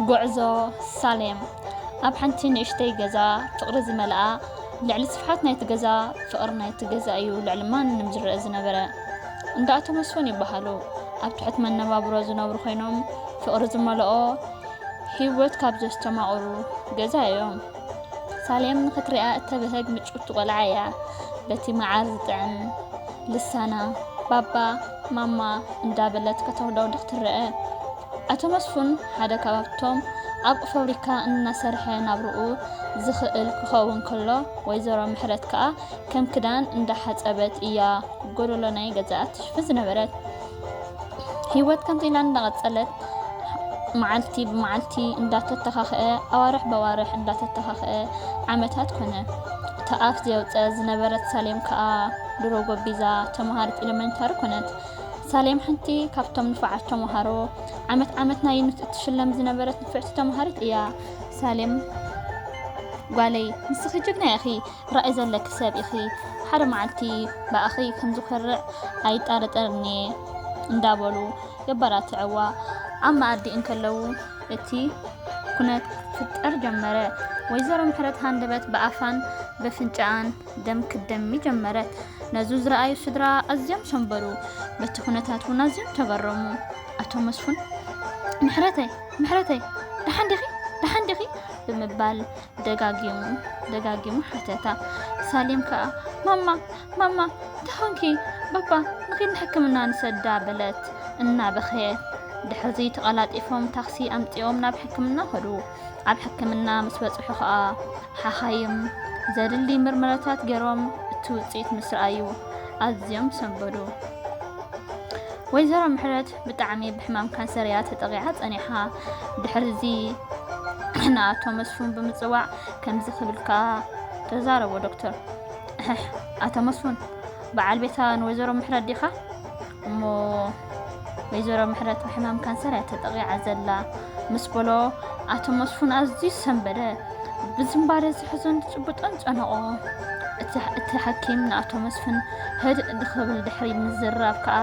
ጉዕዞ ሳሌም ኣብ ሓንቲ ንእሽተይ ገዛ ፍቕሪ ዝመልኣ ልዕሊ ስፍሓት ናይቲ ገዛ ፍቕሪ ናይቲ ገዛ እዩ ልዕሊ ማንም ዝረአ ዝነበረ እንዳ ኣቶ መስፍን ይበሃሉ ኣብ ትሕት መነባብሮ ዝነብሩ ኮይኖም ፍቕሪ ዝመልኦ ሂወት ካብ ዘስተማቕሩ ገዛ እዮም ሳሌም ንኽትሪኣ እተብህግ ምጭውቲ ቆልዓ እያ በቲ መዓር ዝጥዕም ልሳና ባባ ማማ እንዳበለት ከተውደውድኽ ትረአ ኣቶ መስፉን ሓደ ካብቶም ኣብ ፋብሪካ እናሰርሐ ናብርኡ ዝኽእል ክኸውን ከሎ ወይዘሮ ምሕረት ከኣ ከም ክዳን እንዳሓጸበት እያ ጎደሎ ናይ ገዛኣ ትሽፍን ዝነበረት ህይወት ከምዚ ኢላ እንዳቐጸለት መዓልቲ ብመዓልቲ እንዳተተኻኸአ ኣዋርሕ በዋርሕ እንዳተተኻኸአ ዓመታት ኮነ። እታ ኣፍ ዘየውፀ ዝነበረት ሳሌም ከዓ ድሮ ጎቢዛ ተምሃሪት ኤሌመንታሪ ኮነት። ሳሌም ሓንቲ ካብቶም ንፋዓት ተምሃሮ ዓመት ዓመት ናይ ዩኒት እትሽለም ዝነበረት ንፍዕቲ ተምሃሪት እያ። ሳሌም ጓለይ ንስኺ ጅግና ኢኺ ትራኢ ዘለኪ ሰብ ኢኪ ሓደ ማዓልቲ ብኣኺ ከምዝኮርዕ ኣይጣረጠርን እየ እንዳበሉ የባራትዕዋ ኣብ ማኣዲ እንከለዉ እቲ ኩነት ክፍጠር ጀመረ ወይዘሮ ምሕረት ሃንደበት ብኣፋን በፍንጭኣን ደም ክትደሚ ጀመረት ነዙ ዝረኣዩ ስድራ ኣዝዮም ሰንበዱ በቲ ኩነታት እውን ኣዝዮም ተገረሙ ኣቶ መስፉን ምሕረተይ ምሕረተይ ደሓን ዲኺ ደሓን ዲኺ ብምባል ደጋጊሙ ደጋጊሙ ሓተታ። ሳሌም ከኣ ማማ ማማ እንታይ ኾንኪ ባባ ንኺድ ንሕክምና ንሰዳ በለት እናበኸየት። ድሕርዚ ተቐላጢፎም ታክሲ ኣምጺኦም ናብ ሕክምና ኸዱ። ኣብ ሕክምና ምስ በጽሑ ኸኣ ሓኻይም ዘድሊ ምርመራታት ገይሮም እቲ ውጽኢት ምስ ረኣዩ ኣዝዮም ሰንበዱ። ወይዘሮ ምሕረት ብጣዕሚ ብሕማም ካንሰር እያ ተጠቒዓ ጸኒሓ። ድሕርዚ ንኣቶ መስፉን ብምጽዋዕ ከምዚ ክብል ከኣ ተዛረቦ ዶክተር፣ እሕሕ ኣቶ መስፉን በዓል ቤታ ንወይዘሮ ምሕረት ዲኻ? እሞ ወይዘሮ ምሕረት ብሕማም ካንሰር እያ ተጠቒዓ ዘላ ምስ በሎ ኣቶ መስፉን ኣዝዩ ሰንበደ። ብዝምባለ ዝሕዞን ዝጭብጦን ጨነቖ። እቲ ሓኪም ንኣቶ መስፍን ህድእ ድኽብል ድሕሪ ምዝራብ ከኣ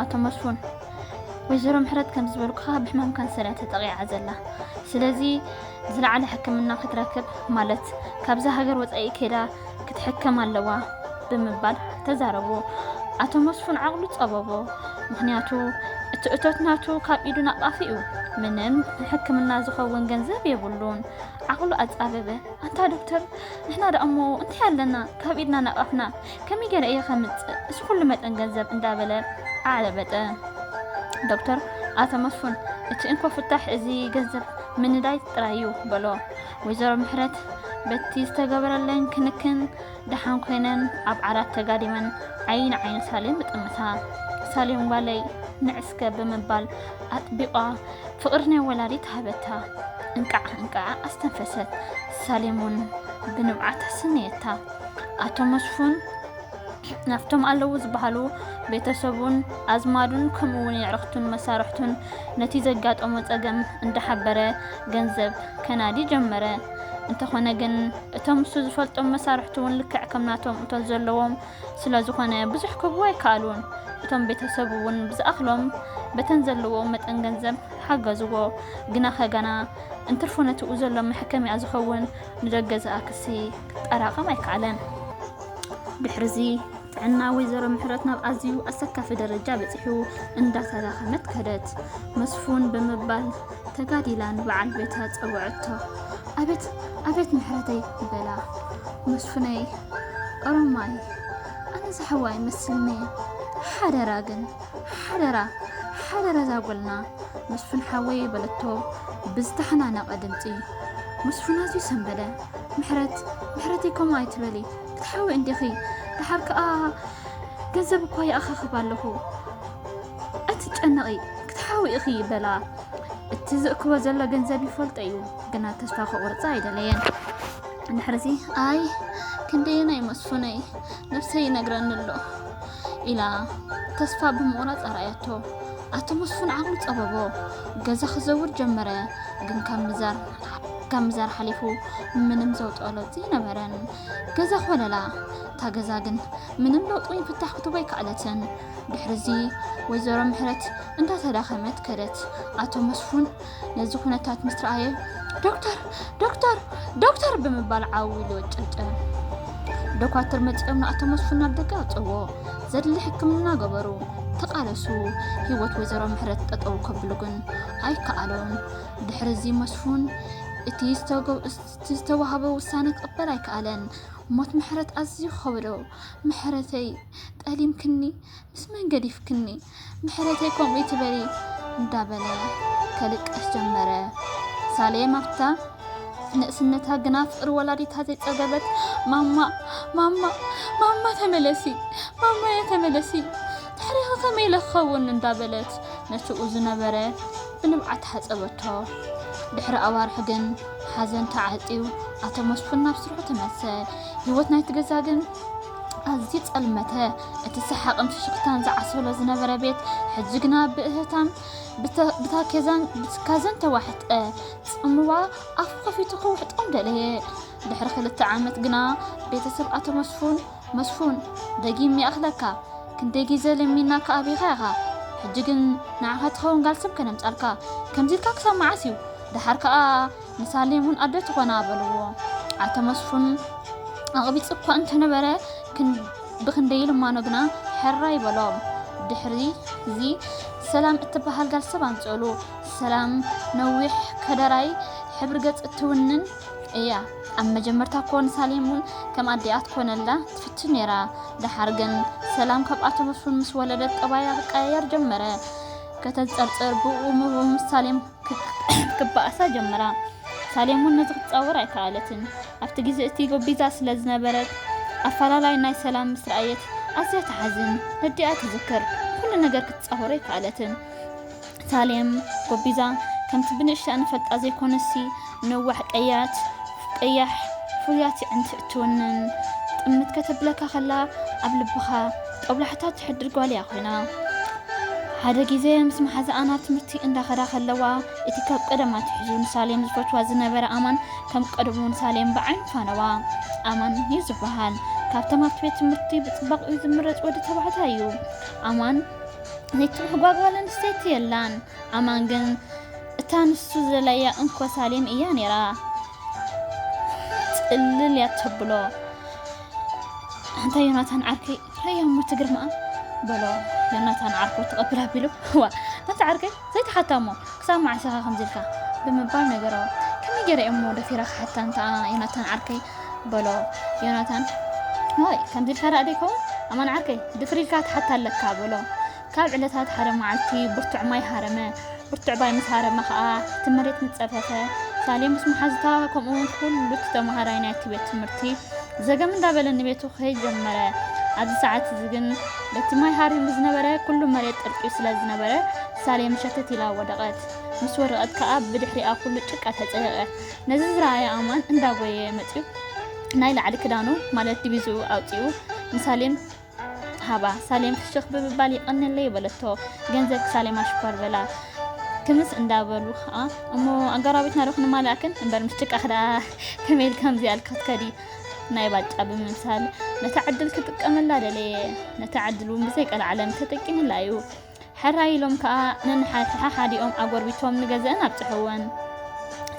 ኣቶ መስፉን ወይዘሮ ምሕረት ከም ዝበልኩኻ ብሕማም ካንሰር እያ ተጠቂዓ ዘላ ስለዚ ዝለዓለ ሕክምና ክትረክብ ማለት ካብዛ ሃገር ወፃኢ ከይዳ ክትሕከም ኣለዋ ብምባል ተዛረቡ ኣቶ መስፉን ዓቕሉ ፀበቦ ምክንያቱ እቲ እቶት ናቱ ካብ ኢዱ ናቃፊ እዩ ምንም ንሕክምና ዝኸውን ገንዘብ የብሉን ዓቕሉ ኣፃበበ ኣንታ ዶክተር ንሕና ደኣ እሞ እንታይ ኣለና ካብ ኢድና ናቃፍና ከመይ ገይረ እየ ከምፅእ እዚ ኩሉ መጠን ገንዘብ እንዳበለ ኣዕለበጠ። ዶክተር ኣቶ መስፉን እቲ እንኮ ፍታሕ እዚ ገንዘብ ምንዳይ ጥራይ እዩ በሎ። ወይዘሮ ምሕረት በቲ ዝተገበረለን ክንክን ደሓን ኮይነን ኣብ ዓራት ተጋዲመን ዓይኒ ንዓይኒ ሳሌም ብጥምታ ሳሌም ጓለይ ንዕስከ ብምባል ኣጥቢቋ ፍቅሪ ናይ ወላዲት ሃበታ። እንቃዕ እንቃዕ ኣስተንፈሰት። ሳሌም እውን ብንብዓት ኣሰነየታ። ኣቶ መስፉን ናብቶም ኣለዉ ዝበሃሉ ቤተሰቡን ኣዝማዱን ከምኡ እውን የዕርኽቱን መሳርሕቱን ነቲ ዘጋጠሞ ጸገም እንዳሓበረ ገንዘብ ከናዲ ጀመረ። እንተኾነ ግን እቶም ንሱ ዝፈልጦም መሳርሕቱ እውን ልክዕ ከም ናቶም እቶት ዘለዎም ስለ ዝኾነ ብዙሕ ክህቡ ኣይከኣሉን። እቶም ቤተሰቡ እውን ብዝኣኽሎም በተን ዘለዎ መጠን ገንዘብ ሓገዝዎ። ግና ከጋና እንትርፎ ነቲኡ ዘሎ መሕከሚያ ዝኸውን ንደገ ዝኣክሲ ክጠራቐም ኣይከኣለን። ድሕሪ'ዚ ጥዕና ወይዘሮ ምሕረት ናብ ኣዝዩ ኣሰካፊ ደረጃ በጺሑ እንዳተዳኸመት ከደት። መስፉን ብምባል ተጋዲላ ንበዓል ቤታ ጸውዐቶ። ኣቤት ኣቤት ምሕረተይ በላ። መስፉነይ ኦሮማይ ኣነ ዝሓዋይ መስልኒ ሓደራ ግን ሓደራ ሓደራ ዛጎልና መስፉን ሓወይ በለቶ ብዝተሓናነቐ ድምፂ። መስፉን ኣዝዩ ሰንበደ። ምሕረት ምሕረተይ ከምኡ ኣይትበሊ ክትሓዊ እንዲኺ ደሓር ከኣ ገንዘብ እኳ ይኣኻኽብ ኣለኹ ኣይትጨነቒ ክትሓዊ ኢኺ በላ እቲ ዝእክቦ ዘሎ ገንዘብ ይፈልጦ እዩ ግና ተስፋ ክቑርፃ ኣይደለየን ምሕረተይ ኣይ ክንደየናይ መስፉነይ ነብሰይ ይነግረኒ ኣሎ ኢላ ተስፋ ብምቑራጽ ኣርኣያቶ። ኣቶ መስፉን ዓቕሉ ጸበቦ። ገዛ ክዘውር ጀመረ፣ ግን ካብ ምዛር ካብ ምዛር ሓሊፉ ምንም ዘውፅኦ ለውጢ ነበረን። ገዛ ኮለላ እታ ገዛ ግን ምንም ለውጢ ወይ ፍታሕ ክትቦ ኣይከኣለትን። ድሕሪ እዚ ወይዘሮ ምሕረት እንዳተዳኸመት ከደት። ኣቶ መስፉን ነዚ ኩነታት ምስ ረኣየ ዶክተር ዶክተር ዶክተር ብምባል ዓው ኢሉ ወጨጨ። ዶኳትር መፂኦም ንኣቶ መስፍን ናብ ደገ ኣውፅዎ። ዘድሊ ሕክምና ገበሩ። ተቃለሱ ህይወት ወይዘሮ ምሕረት ጠጠው ከብሉ ግን ኣይከኣሉን። ድሕሪ እዚ መስፉን እቲ ዝተዋህበ ውሳነ ክቕበል ኣይከኣለን። ሞት ምሕረት ኣዝዩ ከበዶ። ምሕረተይ ጠሊምክኒ ምስ መን ገዲፍክኒ ምሕረተይ ከምኡ ይትበሊ እንዳበለ ከልቅስ ጀመረ። ሳሌም ኣብታ ንእስነታ ግና ፍቅሪ ወላዲታ ዘይጸገበት ማማ ማማ ማማ ተመለሲ ማማ ተመለሲ ታሪኽ ከመይ ለኸውን እንዳበለት ነትኡ ዝነበረ ብንብዓት ሓጸበቶ። ድሕሪ ኣዋርሕ ግን ሓዘን ተዓጽዩ ኣቶ መስፍን ናብ ስርሑ ተመልሰ። ህይወት ናይቲ ገዛ ግን ኣዝዩ ጸልመተ። እቲ ሰሓቕን ፍሽኽታን ዝዓሰሎ ዝነበረ ቤት ሕጂ ግና ብእህታን ብታኬዛን ብትካዘን ተዋሕጠ ጽምዋ ኣፉ ከፊቱ ክውሕጦም ደለየ ድሕሪ ክልተ ዓመት ግና ቤተሰብ ኣቶ መስፉን መስፉን ደጊም ይኣኽለካ ክንደይ ግዜ ለሚና ከኣቢኻ ኢኻ ሕጂ ግን ንዓኻ ትኸውን ጋል ሰብ ከነምጻልካ ከምዚ ኢልካ ክሳብ መዓስ እዩ ደሓር ከኣ ንሳሌም እውን ኣደ ትኾና በልዎ። ኣቶ መስፉን ኣቕቢጹ እኳ እንተነበረ ብኽንደይ ልማኖ ግና ሕራይ በሎም። ድሕሪ'ዚ ሰላም እትበሃል ጋል ሰብ ኣምጽእሉ። ሰላም ነዊሕ፣ ከደራይ፣ ሕብሪ ገጽ እትውንን እያ። ኣብ መጀመርታ እኮ ንሳሌም እውን ከም ኣዲኣ ትኮነላ ትፍትን ነይራ። ደሓር ግን ሰላም ካብ ኣቶ መስፉን ምስ ወለደት ጠባያ ክቀያየር ጀመረ። ከተንጸርጽር ብኡ ምብኡ ምስ ሳሌም ክትባኣሳ ጀመራ። ሳሌም እውን ነዚ ክትጻወር ኣይከኣለትን። ኣብቲ ግዜ እቲ ጎቢዛ ስለ ዝነበረት፣ ኣፈላላይ ናይ ሰላም ምስ ረኣየት ኣዝያ ትሓዝን። ነዲኣ ትዝክር። ኩሉ ነገር ክትጻወሮ ኣይከኣለትን። ሳሌም፣ ጎቢዛ ከምቲ ብንእሽተኣ ንፈልጣ ዘይኮነሲ፣ ነዋሕ ቀያት ቀያሕ ፍሉያት የዕንቲ እትውንን ጥምት ከተብለካ ከላ ኣብ ልብኻ ጦብላሕታ ትሕድር ጓል እያ ኮይና ሓደ ግዜ ምስ መሓዛኣ ናብ ትምህርቲ እንዳኸዳ ከለዋ እቲ ካብ ቀደማ ትሕዙ ንሳሌም ዝፈትዋ ዝነበረ ኣማን ከም ቀደሙ ንሳሌም ብዓይኒ ፋነዋ ኣማን እዩ ዝበሃል ካብቶም ኣብቲ ቤት ትምህርቲ ብፅባቕ እዩ ዝምረፅ ወዲ ተባዕታይ እዩ ኣማን ነቲ ምሕጓግ ጓል ኣንስተይቲ የላን ኣማን ግን እታ ንሱ ዝደለያ እንኮ ሳሌም እያ ነይራ ጽልል እያ ተብሎ ኣንታ ዮናታን ዓርከይ ረያ እሞ ትግርምኣ በሎ ዮናታን ዓርኩ ተቐቢል ኣቢሉ ዋ ኣንታ ዓርከይ ዘይተሓታ እሞ ክሳብ መዓሰኻ ከምዚልካ ብምባል ነገሮ ከመይ ገይረ እሞ ደፊራ ክሓታ እንታ ዮናታን ዓርከይ በሎ ዮናታን ወይ ከምዚ ኢልካ ደኣ ደይከውን ኣማን ዓርከይ ድፍር ኢልካ ትሓታ ኣለካ በሎ ካብ ዕለታት ሓደ መዓልቲ ብርቱዕ ማይ ሃረመ። ብርቱዕ ባይ ምስ ሃረመ ከኣ እቲ መሬት ንጸፈፈ። ሳሌ ምስ መሓዙታ ከምኡውን ኩሉ እቲ ተመሃራይ ናይቲ ቤት ትምህርቲ ዘገም እንዳበለ ንቤቱ ክኸይድ ጀመረ። ኣብዚ ሰዓት እዚ ግን በቲ ማይ ሃሪሙ ዝነበረ ኩሉ መሬት ጥርቂዩ ስለ ዝነበረ ሳሌ መሸተት ኢላ ወደቐት። ምስ ወደቐት ከኣ ብድሕሪኣ ኩሉ ጭቃ ተጸየቐ። ነዚ ዝረኣየ ኣማን እንዳጎየ መጺኡ ናይ ላዕሊ ክዳኑ ማለት ዲቪዝኡ ኣውጺኡ ንሳሌን ሃባ። ሳሌም ፍሽኽ ብምባል ይቐንየለይ በለቶ። ገንዘብኪ ሳሌም ኣሽኳር በላ ክምስ እንዳበሉ ከኣ እሞ ኣጋራቢትና ዶ ክንማላእክን እምበር ምስ ጭቃኺ ደኣ ከመይ ኢልኪ ከምዚ ኣልኪ ክትከዲ ናይ ባጫ ብምምሳል ነታ ዕድል ክጥቀመላ ደለየ። ነታ ዕድል እውን ብዘይቀልዓለም ተጠቂምላ እዩ። ሕራይ ኢሎም ከኣ ነንሓሓዲኦም ኣጎርቢቶም ንገዝኣን ኣብጽሕወን።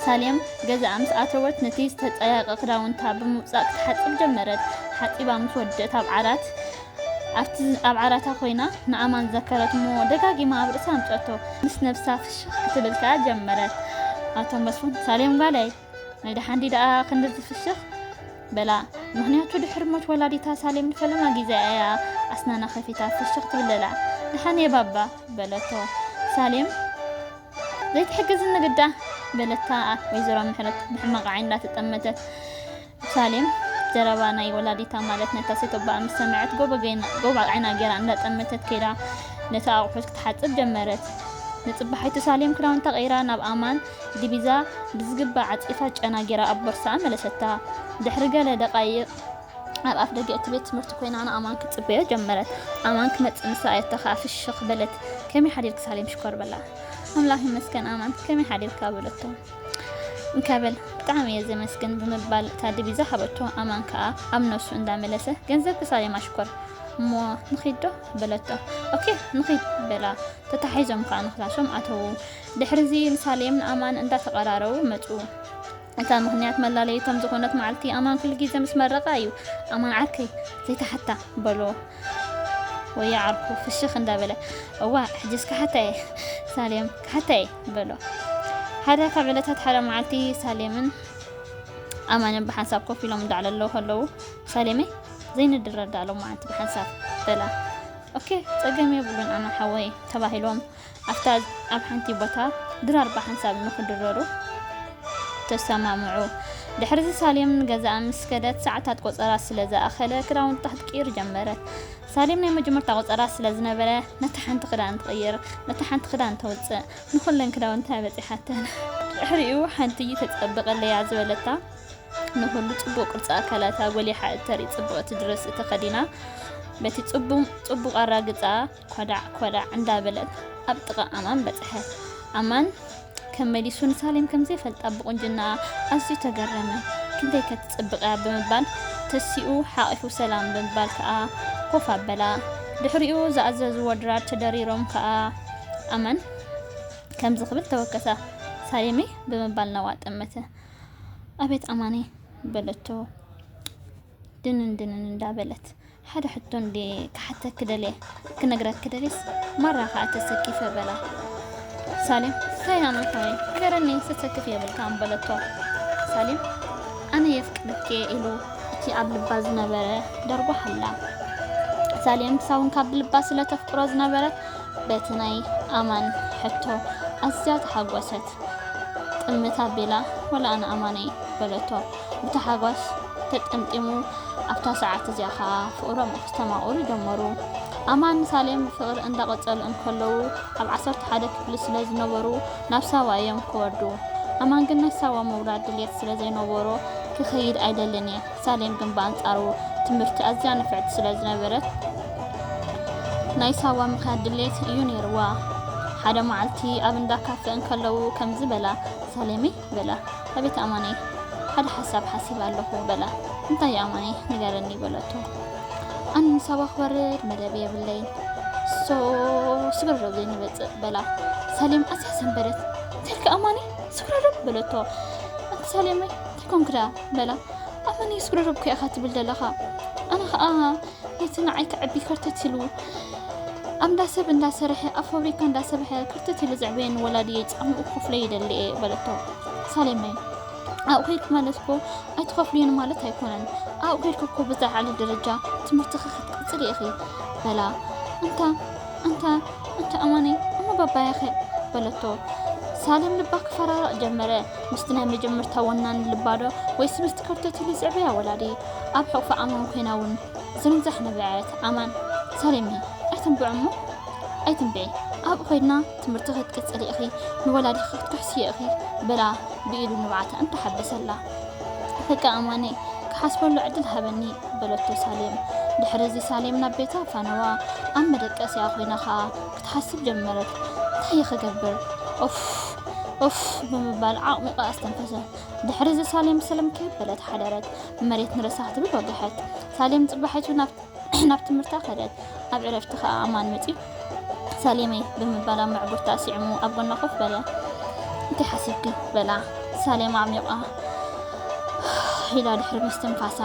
ሳሌም ገዝኣ ምስ ኣተወት ነቲ ዝተጸየቐ ክዳውንታ ብምውጻእ ክትሓጽብ ጀመረት። ሓጺባ ምስ ወድእት ኣብ ዓራት ኣብቲ ኣብ ዓራታ ኮይና ንኣማን ዘከረት እሞ ደጋጊማ ኣብ ርእሳ ኣምጸቶ። ምስ ነብሳ ፍሽኽ ክትብል ከኣ ጀመረት። ኣቶ መስፉን ሳሌም ጓለይ ናይ ደሓንዲ ደኣ ክንዲ ዝፍስኽ በላ ምክንያቱ ድሕሪ ሞት ወላዲታ ሳሌም ንፈለማ ግዜ ኣያ ኣስናና ከፊታ ፍሽኽ ትብለላ ደሓን እየ ባባ በለቶ ሳሌም ዘይትሕግዝ ንግዳ በለታ ወይዘሮ ምሕረት ብሕማቕ ዓይኒ እንዳተጠመተት ሳሌም ዘረባ ናይ ወላዲታ ማለት ነታ ሰቶቦኣ ምስ ሰመዐት ጎቦ ዓይና ገይራ እንዳጠመተት ከይዳ ነቲ ኣቑሑት ክትሓጽብ ጀመረት። ንጽባሒቱ ሳሌም ክዳውንታ ቀይራ ናብ ኣማን ዲቢዛ ብዝግባእ ዓጺፋ ጨና ገይራ ኣብ ቦርሳኣ መለሰታ። ድሕሪ ገለ ደቓይቕ ኣብ ኣፍ ደገ እቲ ቤት ትምህርቲ ኮይና ንኣማን ክትጽበዮ ጀመረት። ኣማን ክመጽእ ምስ ረኣየቶ ከኣ ፍሽኽ በለት። ከመይ ሓዲርኪ ሳሌም ሽኮር በላ። ኣምላኽ ይመስገን ኣማን ከመይ ሓዲርካ በለቶ። እንከብል ብጣዕሚ እየ ዘመስግን ብምባል እታ ዲቪዛ ሃበቶ ኣማን ከኣ ኣብ ነብሱ እንዳመለሰ ገንዘብ ክሳብ የማሽኮር እሞ ንኺድ ዶ በለቶ ኦኬ ንኺድ በላ ተታሒዞም ከኣ ንክላሶም ኣተዉ ድሕሪዚ ንሳሌም ንኣማን እንዳተቀራረቡ መጹ እታ ምክንያት መላለይቶም ዝኾነት መዓልቲ ኣማን ኩሉ ግዜ ምስ መረቃ እዩ ኣማን ዓርከይ ዘይተሓታ በሎ ወያ ዓርኩ ፍሽኽ እንዳበለ እዋ ሕጅስ ክሓታ እየ ሳሌም ክሓታ እየ በሎ። ሓደ ካብ ዕለታት ሓደ መዓልቲ ሳሌምን ኣማንን ብሓንሳብ ኮፍ ኢሎም እንዳዕለለዉ ከለዉ ሳሌመይ ዘይንድረዳ ሎም መዓልቲ ብሓንሳብ በላ። ኦኬ ጸገም የብሉን ኣማን ሓወይ ተባሂሎም ኣብታ ኣብ ሓንቲ ቦታ ድራር ብሓንሳብ ንክድረሩ ተሰማምዑ። ድሕሪዚ ሳሌም ንገዛኣ ምስ ከደት ሰዓታት ቆጸራ ስለ ዝኣኸለ ክዳውንታ ክትቅይር ጀመረት። ሳሌም ናይ መጀመርታ ቆጸራ ስለ ዝነበረ ነታ ሓንቲ ክዳን ትቕይር ነታ ሓንቲ ክዳን ተውጽእ ንኹለን ክዳውንታ በጺሓተን። ድሕሪኡ ሓንቲ ተጸብቐለያ ዝበለታ ንኹሉ ጽቡቕ ቅርጺ ኣካላታ ጎሊሓ እተርኢ ጽብቕቲ ድረስ እተኸዲና በቲ ጽቡቕ ጽቡቕ ኣራግጻ ኮዳዕ ኮዳዕ እንዳበለት ኣብ ጥቓ ኣማን በጽሐት። ኣማን ከም መሊሱ ንሳሌም ከም ዘይፈልጣ ብቁንጅናኣ ኣዝዩ ተገረመ። ክንደይከ ትጽብቕያ ብምባል ተሲኡ ሓቒፉ ሰላም ብምባል ከኣ ኮፍ ኣበላ። ድሕሪኡ ዝኣዘዝዎ ድራር ተደሪሮም ከኣ ኣመን ከምዚ ክብል ተወከሳ። ሳሌመይ ብምባል ናብኣ ጠመተ። ኣቤት ኣማነይ በለቶ። ድንን ድንን እንዳ በለት ሓደ ሕቶ እንዲ ክሓተኪ ደልየ ክነግረኪ ደልየስ ማራ ከዓ ተሰኪፈ በላ ሳሌም እንታይ ኣነ ኾይ ንገረኒ ተሰክፍ የብልካን በለቶ ሳሌም ኣነ የፍቅርኪ ኢሉ እቲ ኣብ ልባ ዝነበረ ደርጎ ሓላ ሳሌም ሳውን ካብ ልባ ስለ ተፍቅሮ ዝነበረት በቲ ናይ ኣማን ሕቶ ኣዝያ ተሓጎሰት ጥምታ ቤላ ወላ ኣነ ኣማነይ በለቶ ብታሕጓስ ተጠምጢሙ ኣብታ ሰዓት እዚኣ ከኣ ፍቕሮም ኣስተማቕሩ ጀመሩ። ኣማን ንሳሌም ብፍቕሪ እንዳቐጸሉ እንከለዉ ኣብ ዓሰርተ ሓደ ክፍሊ ስለ ዝነበሩ ናብ ሳዋ እዮም ክወርዱ። ኣማን ግን ናይ ሳዋ ምውራድ ድልየት ስለ ዘይነበሮ ክኸይድ ኣይደልን እየ። ሳሌም ግን ብኣንጻሩ ትምህርቲ ኣዝያ ንፍዕቲ ስለ ዝነበረት ናይ ሳዋ ምኻድ ድልየት እዩ ነይርዋ። ሓደ መዓልቲ ኣብ እንዳ ካፈ እንከለዉ ከምዚ በላ፣ ሳሌመይ በላ። ኣቤት ኣማነይ ሓደ ሓሳብ ሓሲበ ኣለኹ በላ። እንታይ እዩ ኣማነይ ንገረኒ በለቶ። ኣነ ንሳባ ክበርር መደብ የብለይን ሶ ስብረዶብ ዘይንበፅእ በላ። ሳሌም ኣዝያ ሰንበደት። እንታይልካ ኣማነይ ስብረዶብ በለቶ። ኣንቲ ሳሌመይ እንታይ ኮንክዳ በላ። ኣማነይ ስብረዶብ ከ ኢኻ ትብል ዘለኻ ኣነ ከዓ እቲ ንዓይ ክዕቢ ከርተት ኢሉ ኣብ እንዳ ሰብ እንዳሰርሐ ኣብ ፋብሪካ እንዳሰርሐ ክርተት ኢሉ ዘዕበየኒ ወላድየይ ጻምኡ ክኸፍሎ ይደሊ እየ በለቶ ሳሌመይ ኣብኡ ከይድኩ ማለት እኮ ኣይትኸፍልዮን ማለት ኣይኮነን ኣብኡ ከይድኩ እኮ ብዝለዓለ ደረጃ ትምህርትኺ ክትቅፅል ኢኺ በላ እንታ እንታ እንታ ኣማነይ እሞ ባባያኸ በለቶ ሳሌም ልባ ክፈራረቕ ጀመረ ምስቲ ናይ መጀመርታ ወናኒ ልባዶ ወይስ ምስቲ ከርተት ኢሉ ዝዕበያ ወላዲ ኣብ ሕቑፊ ኣማን ኮይና እውን ዝምዛሕ ነበዐት። ኣማን፣ ሰሌሚ ኣይትንብዑ እሞ ኣይትንብዒ፣ ኣብኡ ኮይድና ትምህርቲ ክትቅጽሊ ኢኺ፣ ንወላዲኺ ክትክሕስዮ ኢኺ በላ ብኢዱ ንብዓታ እንተሓበሰላ። በቃ ኣማነይ ክሓስበሉ ዕድል ሃበኒ በለቶ ሳሌም። ድሕሪ እዚ ሳሌም ናብ ቤታ ፋነዋ ኣብ መደቀሲኣ ኮይና ከኣ ክትሓስብ ጀመረት። እንታይ'የ ክገብር? ኡፍ! ኡፍ! ብምባል ዓቕሚቓ ኣስተንፈሰ። ድሕሪ'ዚ ሳሌም ሰለም ከየበለት ሓደረት። መሬት ንርእሳ ክትብል ወገሐት። ሳሌም ጽባሒቱ ናብ ትምህርታ ከደት። ኣብ ዕረፍቲ ከኣ ኣማን መጺኡ ሳሌመይ ብምባል ኣብ መዕጉርታ ስዕሙ ኣብ ጎና ኮፍ በለ። እንታይ ሓሲብኪ? በላ ሳሌም ኣዕሚቝኣ ኢላ ድሕሪ ምስትንፋሳ።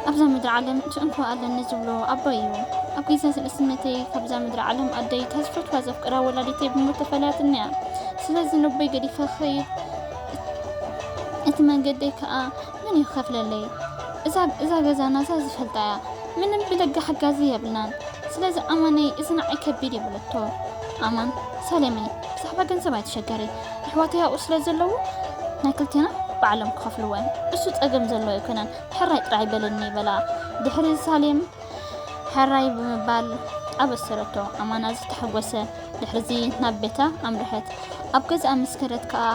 ኣብዛ ምድሪ ዓለም እቲ እንኮ ኣለኒ ዝብሎ ኣቦይ እዩ። ኣብ ግዜ ንእስነተይ ካብዛ ምድሪ ዓለም ኣደይ እታ ዝፈትዋ ዘፍቅራ ወላዲተይ ብሞት ተፈላያትኒ እያ። ስለዚ ነቦይ ገዲፈ ክኸይድ እቲ መንገደይ ከዓ ምን እዩ ከፍለለይ እዛ ገዛና እዛ ዝፈልጣ እያ ምንም ብደገ ሓጋዚ የብልናን ስለዚ ኣማነይ እዚ ንዓይ ከቢድ እዩ በለቶ ኣማን ሰለመይ ብዛዕባ ገንዘብ ኣይተሸገሪ ኣሕዋተይ ኣብኡ ስለ ዘለዉ ናይ ክልቴና ባዕሎም ክኸፍልዎ እዮም እሱ ጸገም ዘሎ ኣይኮነን ሕራይ ጥራይ በለኒ በላ ድሕሪ ሳሌም ሕራይ ብምባል ኣበሰረቶ ኣማና ዝተሓጎሰ ድሕርዚ ናብ ቤታ ኣምርሐት ኣብ ገዛኣ ምስ ከደት ከኣ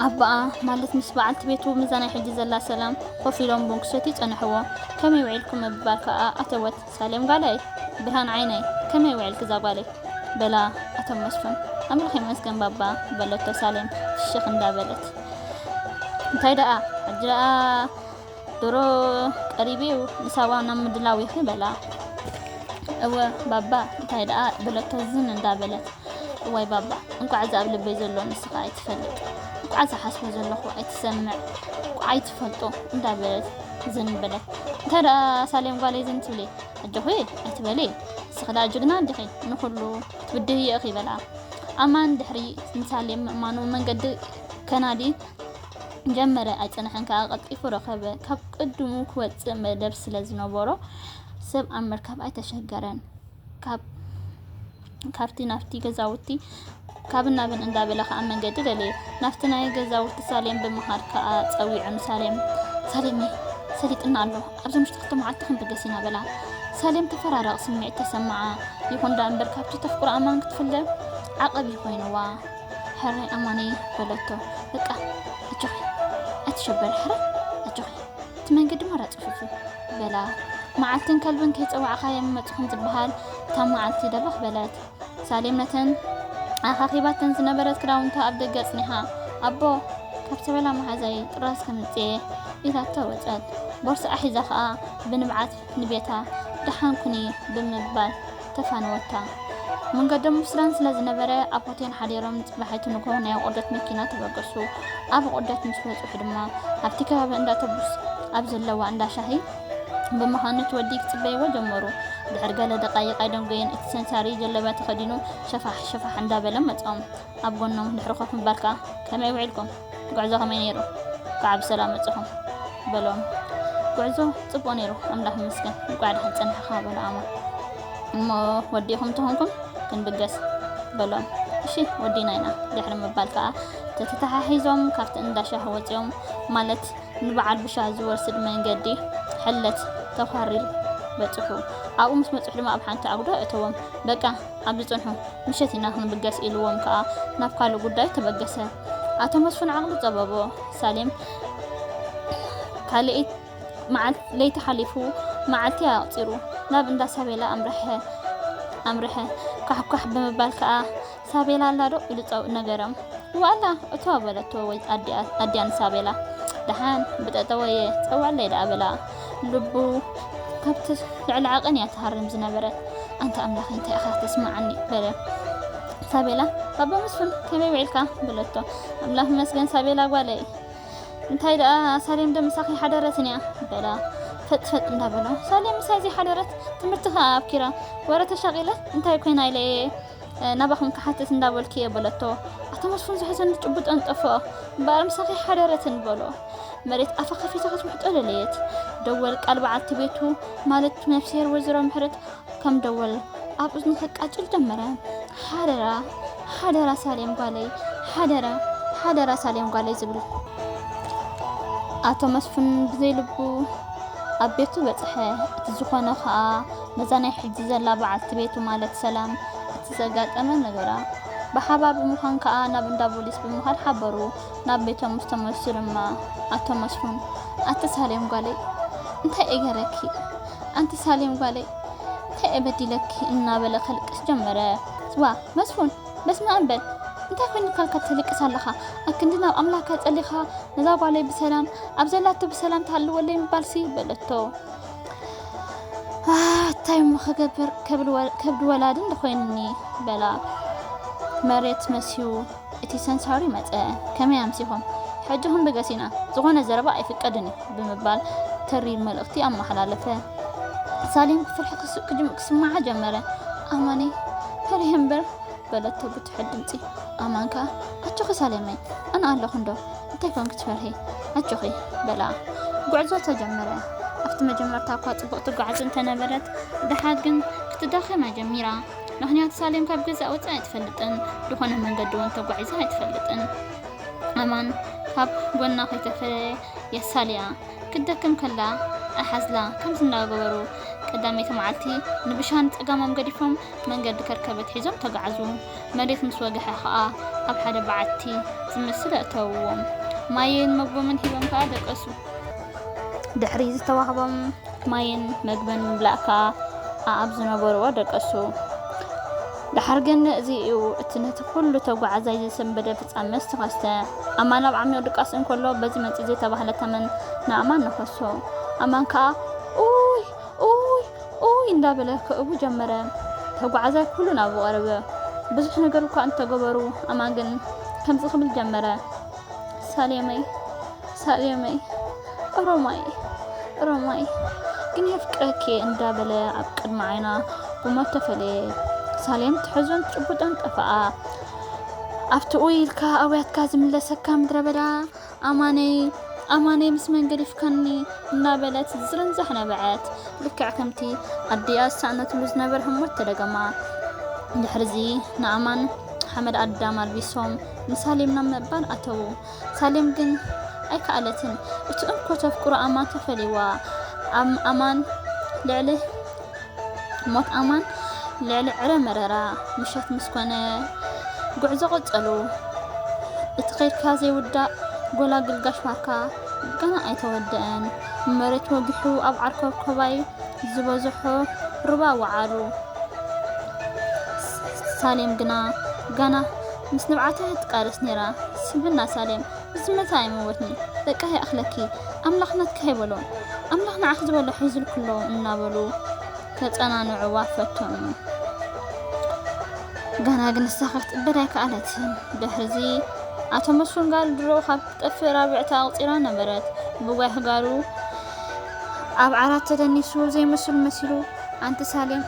ኣባኣ ማለት ምስ በዓልቲ ቤቱ ምዛ ናይ ሕጂ ዘላ ሰላም ኮፍ ኢሎም ቡን ክሰትዩ ጸንሕዎ ከመይ ውዒልኩም ምባል ከኣ ኣተወት ሳሌም ጋለይ ብርሃን ዓይነይ ከመይ ውዕልኪ ዛጓለይ በላ ኣቶ መስፉን ኣምላኽ ይመስገን ባባ በለቶ ሳሌም ፍሽኽ እንዳበለት እንታይ ደኣ ሕጂ ደኣ ድሮ ቀሪብዩ ንሳዋ ናብ ምድላው ኢኺ በላ እወ ባባ እንታይ ደኣ በለቶ ዝን እንዳበለት እዋይ ባባ እንኳዕ እዚ ኣብ ልበይ ዘሎ ንስኻ ኣይትፈልጥ እንኳዕ ዝሓስቦ ዘለኹ ኣይትሰምዕ እንኳዕ ኣይትፈልጦ እንዳበለት ዝን በለ እንታይ ደኣ ሳሌም ጓለይ ዝን ትብሊ ኣጆኺ ኣይትበሊ ንስኺ ደኣ ጅግና እንዲኺ ንኹሉ ትብድህዮ ኢኺ በልኣ ኣማን ድሕሪ ንሳሌም ምእማኑ መንገዲ ከናዲ ጀመረ ኣይጸንሐን ከዓ ቀልጢፉ ረኸበ ካብ ቅድሙ ክወፅእ መደብ ስለ ዝነበሮ ሰብ ኣብ ምርካብ ኣይተሸገረን ካብ ካብቲ ናብቲ ገዛውቲ ካብን ናብን እንዳበለ ከኣ መንገዲ ደለየ። ናብቲ ናይ ገዛውቲ ሳሌም ብምኻድ ከኣ ጸዊዑ ንሳሌም ሳሌመይ ሰሊጥና ኣሎ ኣብዚ ምሽጢ ክልተ መዓልቲ ክንብገስ ኢና በላ። ሳሌም ተፈራራቕ ስምዒት ተሰምዓ። ይኹን ደኣ እምበር ካብቲ ተፍቅሮ ኣማን ክትፍለ ዓቐብ ኮይንዋ። ሕራይ ኣማነይ በለቶ በቃ ኣጆኺ ኣይትሸበሪ ሕራይ ኣጆኺ እቲ መንገዲ ማራ ጽፉፍ እዩ በላ። መዓልትን ከልብን ከይጸዋዕካ የምመጽኹም ዝበሃል እታ መዓልቲ ደበኽ በለት። ሳሌም ነተን ኣኻኺባተን ዝነበረት ክዳውንታ ኣብ ደገ ኣጽኒሓ፣ ኣቦ፣ ካብ ሰበላ መሓዛይ ጥራዝ ከምጽኤ፣ ኢላቶ ወጸት። ቦርስኣ ሒዛ ከኣ ብንብዓት ንቤታ፣ ደሓን ኩኒ፣ ብምባል ተፋነወታ። መንገዶም ኣብ ሱዳን ስለ ዝነበረ ኣብ ሆቴል ሓዲሮም ንጽባሒቱ ንግሆ ናይ ኣቖዶት መኪና ተበገሱ። ኣብ ኣቖዶት ምስ በጽሑ ድማ ኣብቲ ከባቢ እንዳ ተቡስ ኣብ ዘለዋ እንዳ ሻሂ ብምዃን ነቲ ወዲ ክጽበይዎ ጀመሩ። ድሕሪ ገለ ደቓይቕ ኣይደንጎየን እቲ ሰንሳሪ ጀለብያ ተኸዲኑ ሸፋሕ ሸፋሕ እንዳበለ መጾም። ኣብ ጎኖም ድሕሪ ኮፍ ምባልካ ከመይ ውዒልኩም ጉዕዞ ከመይ ነይሩ እንኳዕ ብሰላም መጻኹም በሎም ጉዕዞ ጽቡቅ ነይሩ ኣምላኽ ይመስገን እንኳዕ ድሓን ጸናሕኻ በሎ ኣማን እሞ ወዲኹም ተኾንኩም ክንብገስ በሎም እሺ ወዲና ኢና ድሕሪ ምባል ከዓ ተተተሓሒዞም ካብቲ እንዳሻህ ወፂኦም ማለት ንበዓል ብሻህ ዝወስድ መንገዲ ሕለት ተኳሪል በፅሑ ኣብኡ ምስ በፅሑ ድማ ኣብ ሓንቲ ኣጉዶ እተዎም በቃ ኣብዚ ጽንሑ፣ ምሸት ኢና ክንብገስ ኢሉዎም ከኣ ናብ ካልእ ጉዳዩ ተበገሰ። ኣቶ መስፉን ዓቕሉ ጸበቦ። ሳሌም ካልኤይ መዓልቲ ለይቲ ሓሊፉ መዓልቲ ኣቕጺሩ ናብ እንዳ ሳቤላ ኣምርሐ ኣምርሐ። ካሕኳሕ ብምባል ከኣ ሳቤላ ኣላዶ ኢሉ ጸው ነገረም። እወ ኣላ እቶ በለቶ ወይ ኣዲኣ ኣዲኣ ንሳቤላ። ደሓን ብጠጠወየ ጸውዓለይ ደኣ በላ። ልቡ ካብቲ ልዕሊ ዓቐን እያ ትሃርም ዝነበረት። ኣንታ ኣምላኸይ እንታይ ኢኻ ተስምዓኒ በለ። ሳቤላ ባባ መስፍን ከመይ ውዒልካ በለቶ። ኣምላኽ ይመስገን ሳቤላ ጓለይ፣ እንታይ ደኣ ሳሌም ዶ ምሳኺ ሓደረትን እያ በላ። ፈጥፈጥ እንዳበሎ ሳሌም ምሳይ ዘይሓደረት ትምህርቲ ከኣ ኣብኪራ ወረ ተሻቂለ እንታይ ኮይና ኢለ እየ ናባኹም ክሓትት እንዳበልኩ እየ በለቶ። ኣቶ መስፉን ዘሕዘኑ ጭቡጠን ጠፍኦ። እምበኣር ምሳኺ ሓደረትን በሎ። መሬት ኣፋ ከፊታ ክትውሕጦ ደለየት። ደወል ቃል በዓልቲ ቤቱ ማለት ነፍስሄር ወይዘሮ ምሕረት ከም ደወል ኣብ እዝኑ ከቃጭል ጀመረ። ሓደራ ሓደራ ሳሌም ጓለይ፣ ሓደራ ሓደራ ሳሌም ጓለይ ዝብል ኣቶ መስፍን ብዘይ ልቡ ኣብ ቤቱ በጽሐ። እቲ ዝኾነ ከኣ ነዛ ናይ ሕጂ ዘላ በዓልቲ ቤቱ ማለት ሰላም እቲ ዘጋጠመ ነገራ ብሓባር ብምዃን ከኣ ናብ እንዳ ቦሊስ ብምኻድ ሓበሩ። ናብ ቤቶም ምስ ተመልሱ ድማ ኣቶ መስፉን ኣቲ ሳሌም ጓለይ እንታይ እየ ገረኪ ኣንቲ ሳሌም ጓለይ እንታይ እየ በዲለኪ እናበለ ከልቅስ ጀመረ። ስዋ መስፉን በስመኣም በል እንታይ ኮይንካ እካ ትልቅስ ኣለኻ ኣብ ክንዲ ናብ ኣምላካ ጸሊኻ ነዛ ጓለይ ብሰላም ኣብ ዘላቶ ብሰላም ትሃልወለይ ምባልሲ በለቶ። እንታይ እሞ ክገብር ከብዲ ወላዲ እንድኮይንኒ በላ መሬት መስዩ እቲ ሰንሳሪ መፀ ከመይ ኣምሲኹም ሕጂ ክንብገስ ኢና ዝኾነ ዘረባ ኣይፍቀድን እዩ ብምባል ተሪር መልእኽቲ ኣመሓላለፈ ሳሌም ብፍርሒ ክስማዓ ጀመረ ኣማኒ ፈሪህ እምበር በለቶ ብትሑት ድምፂ ኣማን ከዓ ኣጆኺ ሳሌመይ ኣነ ኣለኹ እንዶ እንታይ ኮን ክትፈርሂ ኣጆኺ በላ ጉዕዞ ተጀመረ ኣብቲ መጀመርታ እኳ ጽቡቕ ትጓዓዝ እንተነበረት ድሓር ግን ክትዳኸማ ጀሚራ ምክንያቱ ሳሌም ካብ ገዛ ወፃ ኣይትፈልጥን ዝኾነ መንገዲ እውን ተጓዒዛ ኣይትፈልጥን ኣማን ካብ ጎና ከይተፈለየ የሳልያ ክትደክም ከላ ኣሓዝላ ከምዚ እናገበሩ ቀዳመይቲ መዓልቲ ንብሻን ጸጋሞም ገዲፎም መንገዲ ከርከበት ሒዞም ተጋዕዙ። መሬት ምስ ወገሐ ከኣ ኣብ ሓደ በዓቲ ዝመስል ኣእተውዎም። ማይን መግቦምን ሂቦም ከኣ ደቀሱ። ድሕሪ ዝተዋህቦም ማይን መግብን ምምላእ ከኣ ኣኣብ ዝነበርዎ ደቀሱ። ደሓር ግን እዚ እዩ እቲ ነቲ ኩሉ ተጓዓዛይ ዘሰንበደ ፍጻመ ዝተኸስተ። ኣማን ኣብ ዓሚቕ ድቃስ እንከሎ በዚ መጺ ዘይተባህለ ተመን ንኣማን ነኸሶ። ኣማን ከኣ ኡይ ኡይ ኡይ እንዳበለ ከእቡ ጀመረ ተጓዓዛይ ኩሉ ናብኡ ቀረበ ብዙሕ ነገር እኳ እንተገበሩ ኣማን ግን ከምዚ ክብል ጀመረ ሳሌመይ ሳሌመይ ኦሮማይ ኦሮማይ ግን የፍቅረኪየ እንዳበለ ኣብ ቅድሚ ዓይና ብሞት ተፈለየ ሳሌም ትሕዞን ትጭቡጦን ጠፈኣ ኣብቲ ኡይ ኢልካ ኣውያትካ ዝምለሰካ ምድረ በዳ ኣማነይ ኣማነይ ምስ መን ገዲፍካኒ እናበለት ዝርንዛሕ ነበዐት። ልክዕ ከምቲ ኣዲኣ ዝሰኣነትሉ ዝነበረ ህሞት ተደገማ። ድሕርዚ ንኣማን ሓመድ ኣዳም ኣልቢሶም ንሳሌም ናብ ምእባል ኣተዉ። ሳሌም ግን ኣይከኣለትን። እቲ እንኮ ተፍቅሮ ኣማን ተፈልይዋ። ኣም ኣማን ልዕሊ ሞት ኣማን ልዕሊ ዕረ መረራ ምሸት ምስ ኮነ ጉዕዞ ቀጸሉ። እቲ ከድካ ዘይውዳእ ጎላግል ጋሽ ባርካ ገና ኣይተወደአን። መሬት ወጊሑ ኣብ ዓርከብኮባይ ዝበዝሖ ሩባ ወዓሉ። ሳሌም ግና ገና ምስ ንብዓታ ትቃለስ ነይራ። ስምዕና ሳሌም ብዝመጸ ኣይመወትን'ዩ በቃ ይኣኽለኪ ኣምላኽ ናትኪ ከይበሎ ኣምላኽ ንዓኺ ዝበሎ ሒዙልኪ ኣሎ እናበሉ ከጸናንዕዋ ፈተኑ። ገና ግን ንሳ ክትቅበል ኣይከኣለትን። ድሕርዚ ኣቶ መስፍን ጋል ድሮ ካብ ክትጠፍእ ራብዕቲ ኣቑጺራ ነበረት። ብጓይ ጋሉ ኣብ ዓራት ተደኒሱ ዘይመስሉ መሲሉ ኣንቲ ሳሌም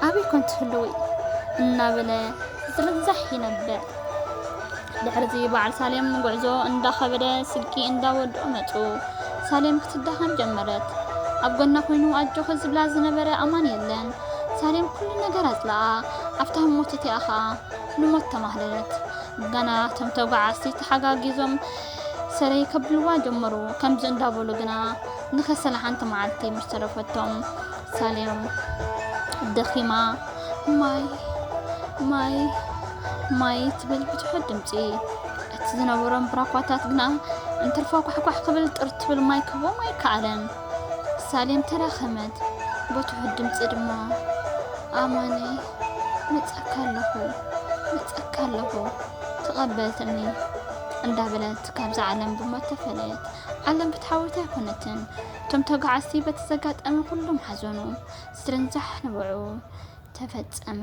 ኣበይ ኮን ትህልዊ እናበለ ዝርዛሕ ይነብዕ። ድሕሪ'ዚ በዓል ሳሌም ጉዕዞ እንዳኸበደ ስልኪ እንዳወድኡ መጹ። ሳሌም ክትዳኸም ጀመረት። ኣብ ጎና ኮይኑ ኣጆኺ ዝብላ ዝነበረ ኣማን የለን። ሳሌም ኩሉ ነገር ኣጽለኣ። ኣብታ ህሞት እቲኣ ኸኣ ንሞት ተማህለለት። ገና እቶም ተጓዓዝቲ ተሓጋጊዞም ሰረይ ከብልዋ ጀመሩ። ከምዚ እንዳበሉ ግና ንከሰላ ሓንቲ መዓልቲ ምስ ተረፈቶም ሳሌም ደኺማ ማይ ማይ ማይ ትብል ብትሑት ድምፂ እቲ ዝነበሮም ብራኳታት ግና እንትርፎ ኳሕኳሕ ክብል ጥር ትብል ማይ ክህቦም ኣይከኣለን ሳሌም ተዳኸመት ብትሑት ድምፂ ድማ ኣማነ መፀካ ኣለኹ መፀካ ኣለኹ ተቐበልትኒ እንዳበለት ካብዛ ዓለም ብሞት ተፈለየት ዓለም ፍትሓዊት ኣይኮነትን እቶም ተጓዓዝቲ በቲ ዘጋጠመ ኩሎም ሓዘኑ ስርንዛሕ ንበዑ ተፈጸመ